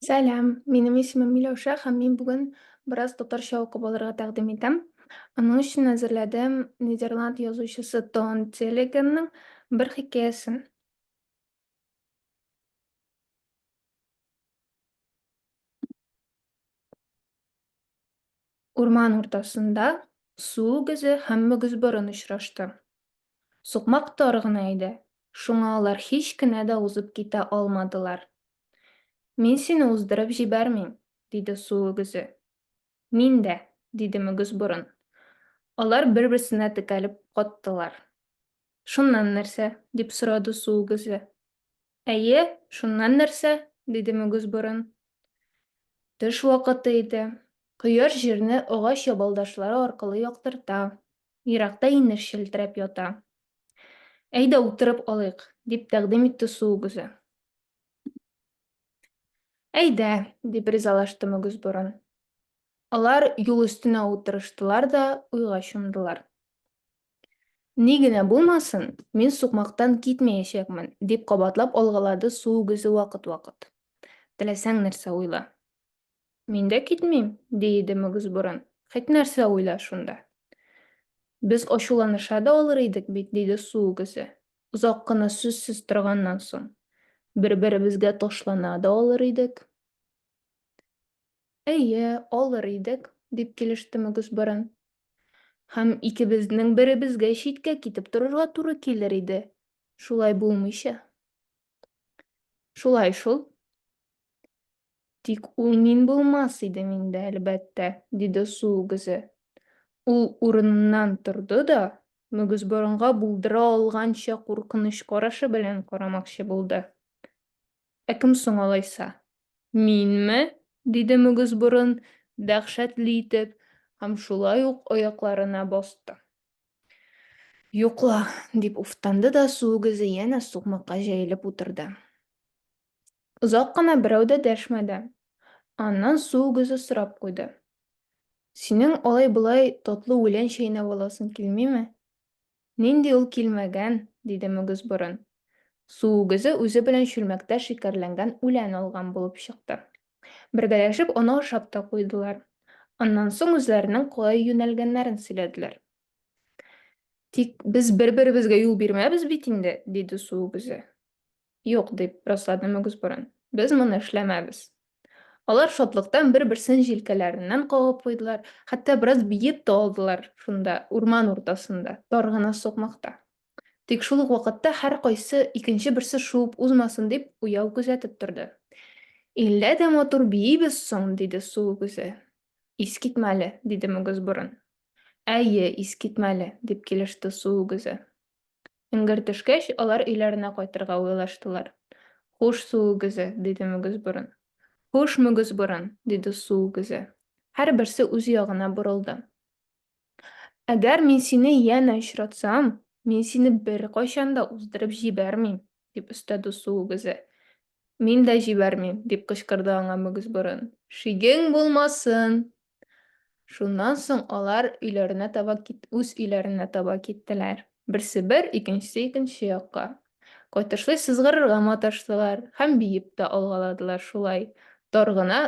Сәлам, минем исемем Миләүшә һәм мин бүген бераз татарча укып алырга тәкъдим итәм. Аның өчен әзерләдем Нидерланд язучысы Тон Телегенның бер хикәясен. Урман уртасында су үгезе һәм мөгезборын очрашты. Сукмак тар гына иде, шуңа алар һич кенә дә узып китә алмадылар. Мин сине уздырып җибәрмим, диде су үгезе. Мин дә, диде мөгезборын. Алар бер-берсенә текәлеп каттылар. Шуннан нәрсә? дип сорады су үгезе. Әйе, шуннан нәрсә? диде мөгез борын. Төш вакыты иде. Кояш җирне агач ябалдашлары аркылы яктырта. Еракта инеш челтерәп ята. Әйдә, утырып алыйк, дип тәкъдим итте су үгезе. Әйдә, дип ризалашты мөгез борын. Алар юл өстенә утырыштылар да уйга чумдылар. Ни генә булмасын, мин сукмактан китмәячәкмен, дип кабатлап алгалады су үгезе вакыт-вакыт. Теләсәң нәрсә уйла. Мин дә китмим, ди иде Мөгезборын. Хет нәрсә уйла шунда. Без ачуланыша да алыр идек бит, диде су үгезе, озак кына сүзсез торганнан соң. Бер-беребезгә ташлана да алыр идек. Әйе, алыр идек, дип килеште Мөгезборын. Һәм икебезнең беребезгә читкә китеп торырга туры килер иде. Шулай булмыйча. Шулай шул. Тик ул мин булмас идем инде, әлбәттә, диде су үгезе. Ул урыныннан торды да, Мөгезборынга булдыра алганча куркыныч карашы белән карамакчы булды. Ә кем соң алайса? Минме? диде Мөгезборын дәһшәтле итеп һәм шулай ук аякларына басты. Юк ла, дип уфтанды да су үгезе янә сукмакка җәелеп утырды. Озак кына берәү дә дәшмәде. Аннан су үгезе сорап куйды. Синең алай-болай татлы үлән чәйнәп аласың килмиме? Нинди ул килмәгән? диде Мөгезборын. Су үгезе үзе белән чүлмәктә шикәрләнгән үлән алган булып чыкты. Бергәләшеп оны ашап та куйдылар. Аннан соң үзләренең кая юнәлгәннәрен сөйләделәр. Тик без бер-беребезгә юл бирмәбез бит инде, диде су үгезе. Юк, дип раслады Мөгез Борын. Без моны эшләмәбез. Алар шатлыктан бер-берсен җилкәләреннән кагып куйдылар, хәтта бераз биеп тә алдылар шунда, урман уртасында, тар гына сукмакта. Тик шул ук вакытта һәркайсы икенче берсе шуып узмасын дип уяу күзәтеп торды. Иллә дә матур биибез соң, диде су үгезе. Искитмәле, диде Мөгез Борын. Әйе, искитмәле, дип килеште су үгезе. Эңгер төшкәч, алар өйләренә кайтырга уйлаштылар. Хуш, су үгезе, диде мөгез борын. Хуш, мөгез борын, диде су үгезе. Һәрберсе үз ягына борылды. Әгәр мин сине янә очратсам, мин сине беркайчан да уздырып җибәрмим, дип өстәде су үгезе. Мин дә җибәрмим, дип кычкырды аңа мөгез борын. Шигең булмасын, Шуннан соң алар өйләренә таба кит, үз өйләренә таба киттеләр. Берсе бер, икенчесе икенче якка. Кайтышлый сызгырырга маташтылар һәм биеп тә алгаладылар шулай. Тар гына,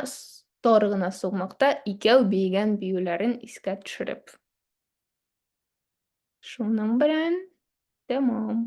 тар гына сукмакта икәү биегән биюләрен искә төшереп. Шуның белән тәмам.